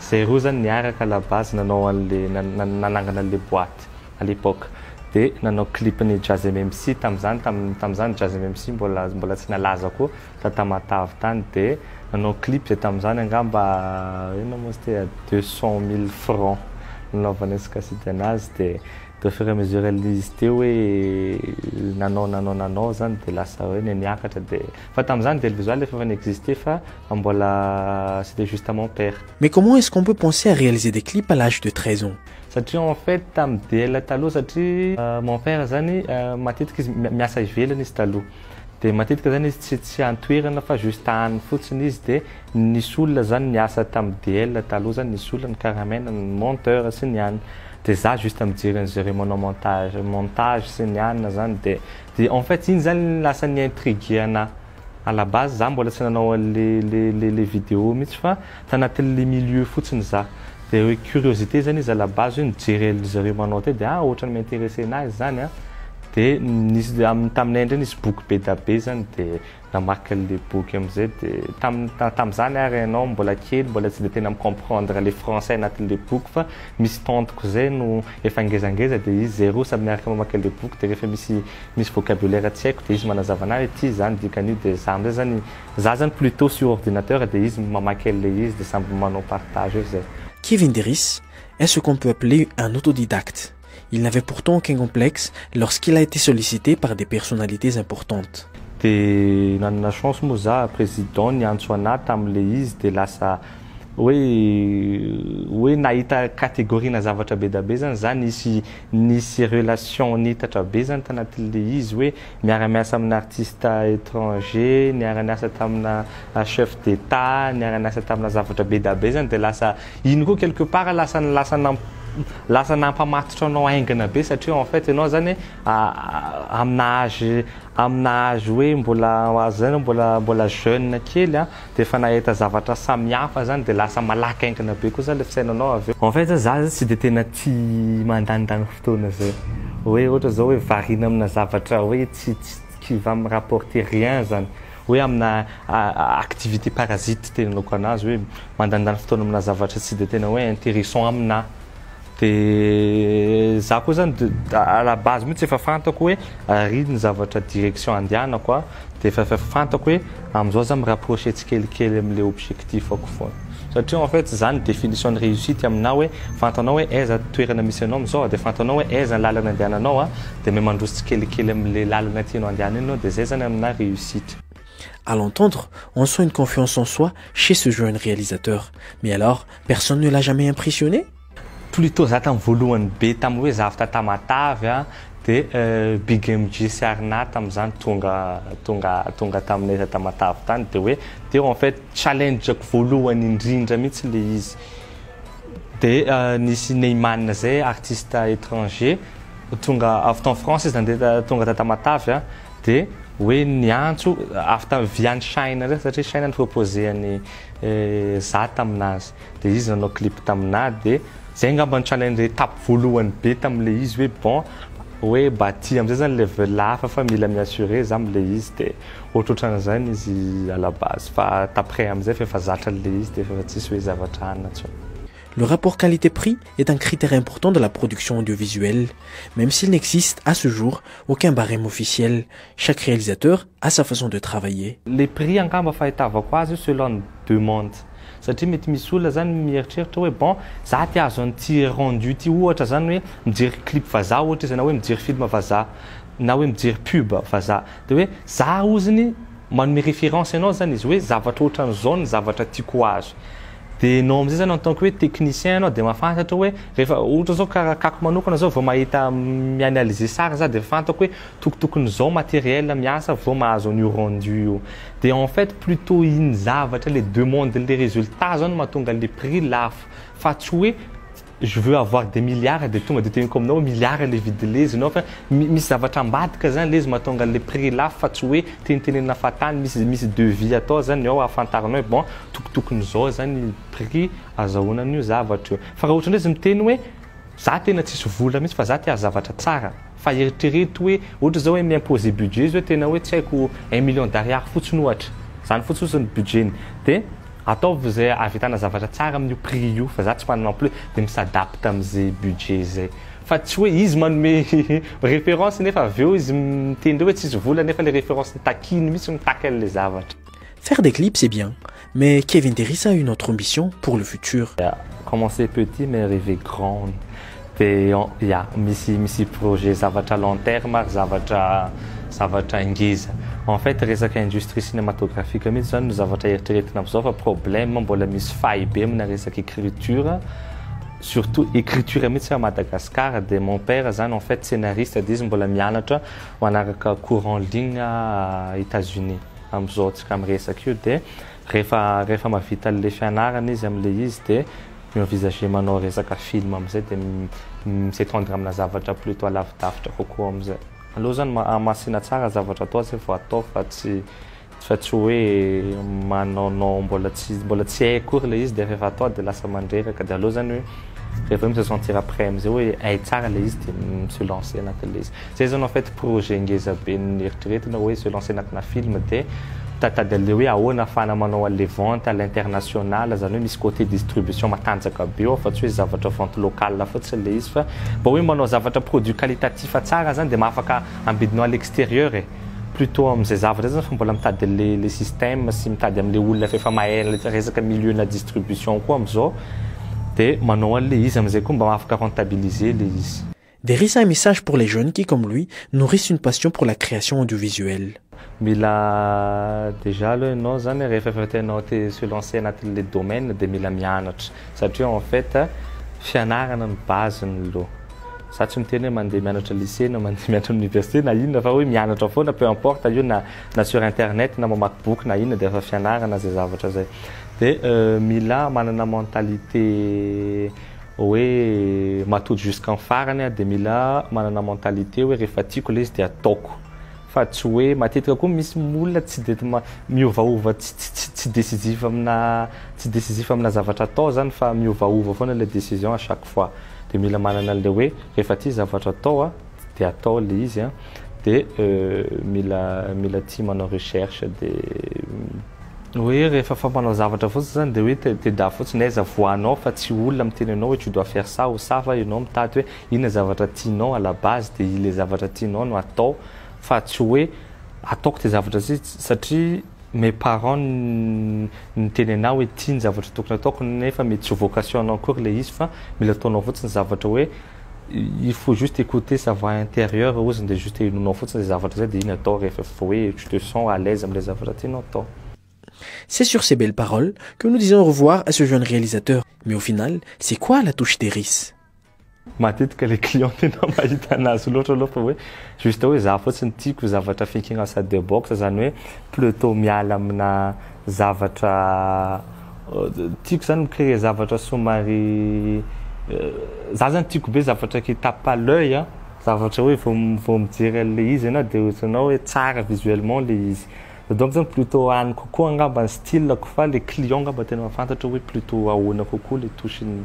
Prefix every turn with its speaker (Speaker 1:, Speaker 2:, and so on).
Speaker 1: Zero zany niaraka la base nanao anle nanangana anle boite à l'époque de nanao clip ny Jazzeme MC tamzany tamzany Jazzeme MC mbola mbola tsy nalaza koa ta Tamatave tany de nanao clip zay tamzany angamba inona moa izy ty à deux cent mille francs nanaovana escaside anazy de de au fur et à mesure izy teo hoe nanao nanao nanao zany de lasa hoe niakatra de Fa tamzany velivizwal efa n'existe fa mbola c'était juste mon père. Mais comment est-ce qu'on peut
Speaker 2: penser à réaliser des clips à l'âge de treize ans? Satria en fait
Speaker 1: tam diela taloha satria mon père zany matetika izy miasa ivelany izy taloha de matetika zany izy tsy tsy any toerana fa juste any fotsiny izy de nisy olona zany niasa tam diela taloha zany nisy olona ny caramena ny monteur sy ny anona de za juste mijery an'zareo manao montage montage sy ny anona zany de De en fait iny zany lasa ni intriguer anah à la base zah mbola tsy nanao an le le le le video mitsy fa tanatin le milieu fotsiny zah de hoe curiosité zany izy à la base hoe nijery an zareo manao teo de ah otrany mi intéresser nazy zany an de nisy am taminay ndray nisy boky be dabe zany de Namaky an'ilay boky amin'izay dia tamin'ny tamin'izany ary ianao mbola kely mbola tsy dia tena mi-comprendre ilay français anatin'ilay boky fa misy tantiko izay no efa ngezangeza dia izy zay roa samy miaraka mamaky an'ilay boky dia rehefa misy misy vocabulaire tsy haiko dia izy manazava anah ity izany dikan'io dia za amin'izay izany za izany plutot sur ordinateur dia izy mamaky an'ilay izy dia samby manao partage eo izay. Kivy Indiris,
Speaker 2: Est-ce qu'on peut appeler un autodidacte? Il n'avait pourtant aucun complexe lorsqu'il a été sollicité par des personnalités importantes. Dia
Speaker 1: nanana chance moa za, président niantso anah tamle izy dia lasa hoe hoe nahita categoriena zavatra be da be zany za, nisy nisy relation niitatra be zany tanatinle izy hoe miara miasa amina artiste étranger, niara niasa tamina chef d'etat, niara niasa tamina zavatra be da be zany dia lasa Iny koa quelque part lasa lasa lasa nampamatotra anao haingana be satria en fait ianao zany amina âge amina âge hoe mbola zay ianao mbola mbola jeune kely a de efa nahita zavatra samihafa zany de lasa malaky haingana be koa zany le fisainanao avy eo. En fait zany za tsy de tena tia mandanindany fotoana zay hoe ohatra zao hoe variana amina zavatra hoe tsy tsy qui va me rapporter rien zany. hoe amina activité parasite tena anaovako anazy hoe mandandany fotoana amina zavatra tsy dia tena hoe intéressant amina dia za koa zany à la base mihitsy efa fantako hoe ary ny zavatra direction andehanako dia efa fantako hoe amizao za mi rapprocher tsikelikely amle objectif-ako foana. Satria en fait zany ny definition ny réussite aminao hoe fantanao hoe aiza toerana misy anao amizao de fantanao hoe aiza ny lalana andehananao a de me mandroso tsikelikely amle lalana tianao andehana iny anao de zay zany amina réussite. À l'entendre,
Speaker 2: on sent une confiance en soi chez ce jeune réalisateur. Mais alors, personne ne l'a jamais impressionné? Plutot za
Speaker 1: tam voalohany be tam hoe zavta tamatave a de big MJ sy Arnath tam zany tonga tonga tonga taminay za tamatave tany de hoe teo en fait challenge ko voalohany indrindra mihitsy le izy de nisy Neyman zay artiste etranger tonga avy tam France izy nandeha tonga ta tamatave a de hoe niantso avy tam via any China satria China ni proposer any za taminazy. Dia izy nanao clip taminà dia zay angamba nitranga ny étape voalohany be tamin'ilay izy hoe bon hoe mba aty am'zay zany level hafa fa mila mi-assurer za am'ilay izy dia ohatrohatran'izany izy à la base fa t'après am'zay f'efa zatra an'ilay izy dia f'efa tsisy hoe zavatra hanina intsony. Le
Speaker 2: rapport qualité prix est un critère important de la production audiovisuelle, même s'il n'existe, à ce jour, aucun barème officiel, Chaque réalisateur a sa façon de travailler. Le prix angamba
Speaker 1: fahitavako azy io selon ny demande satria mety misy olona zany mieritreritra hoe bon za te ahazo an'ity rendu ity ohatra zany hoe mijery clip vazaha ohatra izy na hoe mijery film vazaha na hoe mijery pub vazaha de hoe za oziny manome référence anao zany izy hoe zavatra ohatran'izao ny zavatra tiako ho azo de enao am'zay zany en tant que hoe technicien anao de mahafantatra hoe rehefa ohatra zao karaha kako manokana zao vao mahita mi-analyser sary za de efa fantako hoe Toko tokony zao matériel miasa vao mahazo an'io rendu io. De en fait plutot iny zavatra le demande-n'le résultat zao no mahatonga le prix lafo fa tsy hoe je veux avoir des milliards de tonga de teneniko aminao hoe milliards le vidin-lezy-nao fa misy zavatra ambadika zany lezy mahatonga an'le prix lafo fa tsy hoe tenitenenina fahatany misy misy devis atao zany ao ahafantaranao hoe bon toko tokony zao zany prix azahoana an'io zavatra io. Fa raha ohatra ndray izy miteny hoe Za tena tsisy vola mihitsy fa za te hazavatra tsara fa eritrereto hoe ohatra zao hoe mi imposer budget izy hoe tena hoe tsy haiko un million d'ariary fotsiny ohatra zany fotsiny fotsiny budget-ny de ataovy zay ahavitana zavatra tsara amin'io prix io fa za tsy manana en plus de mi s'adapte am'ze budget zay fa tsy hoe izy manome référence nefa avy eo izy miteny hoe tsisy vola nefa le référence takiny mihitsy mitaky an'le zavatra. Faire des clips
Speaker 2: c'est bien Mais Kevin Derisa a une autre ambition pour le futur. Ya, commencer petit
Speaker 1: mais rêver grand dia ya misy misy projet zavatra long terme ary zavatra zavatra ngeza. En fait resaka industrie cinematographique mihitsy izany no zavatra eritreretina amin'izao fa problème mbola misy faille be amina resaka écriture surtout écriture mihitsy à Madagascar dia mon père izany en fait scénariste dia izy mbola mianatra manaraka cours en ligne à Etats-Unis. Amin'izao antsika miresaka io dia rehefa rehefa mahavita an'ilay fianarana izy amin'ilay izy dia mi-envisager manao resaka film amin'izay dia mi-s'étendre amina zavatra plutôt lavidavitra kokoa amin'izay. Aleo izany mahamasina tsara zavatra atao izay vao atao fa tsy fa tsy hoe manaonao mbola tsy mbola tsy hay akory ilay izy dia rehefa atao dia lasa mandreraka dia aleo izany hoe rehefa hoe mi-se sentir prêt amin'izay hoe hay tsara ilay izy dia mi-se lancer anatin'ilay izy. Zay zany en fait projet ngeza be neritreretina oe se lancer anatina film de mitaditady anle oe ahoana afahana manao anle vente à l'international zany oe misy cote distribution matanjaka be ao fa tsy oe zavatra vente locale fotsiny le izy fa mba oe manao zavatra produit qualitatif tsara zany de mahafaka ambidinao à l'exterieur e plutot amzay zavatra zany fa mbola mitady anle le système sy mitady amle olona fa efa mahay anle resaka milieu na distribution koa amzao de manao anle izy amzay koa mba mahafaka rentabiliser le izy. Dia resy ahy message
Speaker 2: pour les jeunes qui comme lui nourrissent une passion pour la création audiovisuelle. Mila
Speaker 1: déjà aloha ianao zany rehefa efa tianao te se lancer anatin'le domaine dia mila mianatra satria en fait fianarana no base ny lo za tsy miteny hoe mandeha mianatra lycée na mandeha mianatra université na inona fa hoe mianatra foana peu importe io na na sur internet na mamaky boky na inona dia efa fianarana zay zavatra zay dia mila manana mentalité hoe matoa jusqu'en farany aho dia mila manana mentalite hoe rehefa tiako ilay izy dia ataoko fa tsy hoe matetika koa misy olona tsy dia miovaova tsy tsy tsy tsy décisif amina tsy décisif amina zavatra atao zany fa miovaova foana ilay décision à chaque fois dia mila manana an'ilay hoe rehefa tia zavatra atao a dia atao ilay izy a dia mila mila tia manao recherche dia Hoe rehefa fampanao zavatra fotsiny zany dia hoe teda fotsiny dia aiza voanao fa tsy olona miteny anao hoe tu dois faire ça ou ça fa ianao mitady hoe inona zavatra tianao à la base dia ilay zavatra tianao no atao fa tsy hoe ataoko ity zavatra ity satria mes parents niteny anah hoe ity ny zavatra tokony ataoko nefa mety tsy ho vocation-nao akory ilay izy fa mila ataonao fotsiny zavatra hoe Il faut juste écouter sa voix intérieure ozy dia juste henoinao fotsiny izay zavatra izay dia iny atao rehefa efa hoe tu te sens à l'aise amin'ilay zavatra tianao atao. C'est
Speaker 2: sur ces belles paroles que nous disons au revoir à ce jeune réalisateur, mais au final c'est quoi la touche des ris? Matetika
Speaker 1: ilay client tena mahita anazy loatra aloha fa hoe juste hoe za fotsiny tiako zavatra thinking outside the box izany hoe pleutot miala amina zavatra Tiako zany mi créer zavatra somary za zany tiako be zavatra qui tape à l'oeil an, zavatra hoe vao vao mijery an'le izy ianao de ohatranao hoe tsara visuellement le izy. Za donc zany plutôt any kokoa angamba ny style-ko fa le client angamba tena mahafantatra hoe plutôt ahoana kokoa le touche-ny.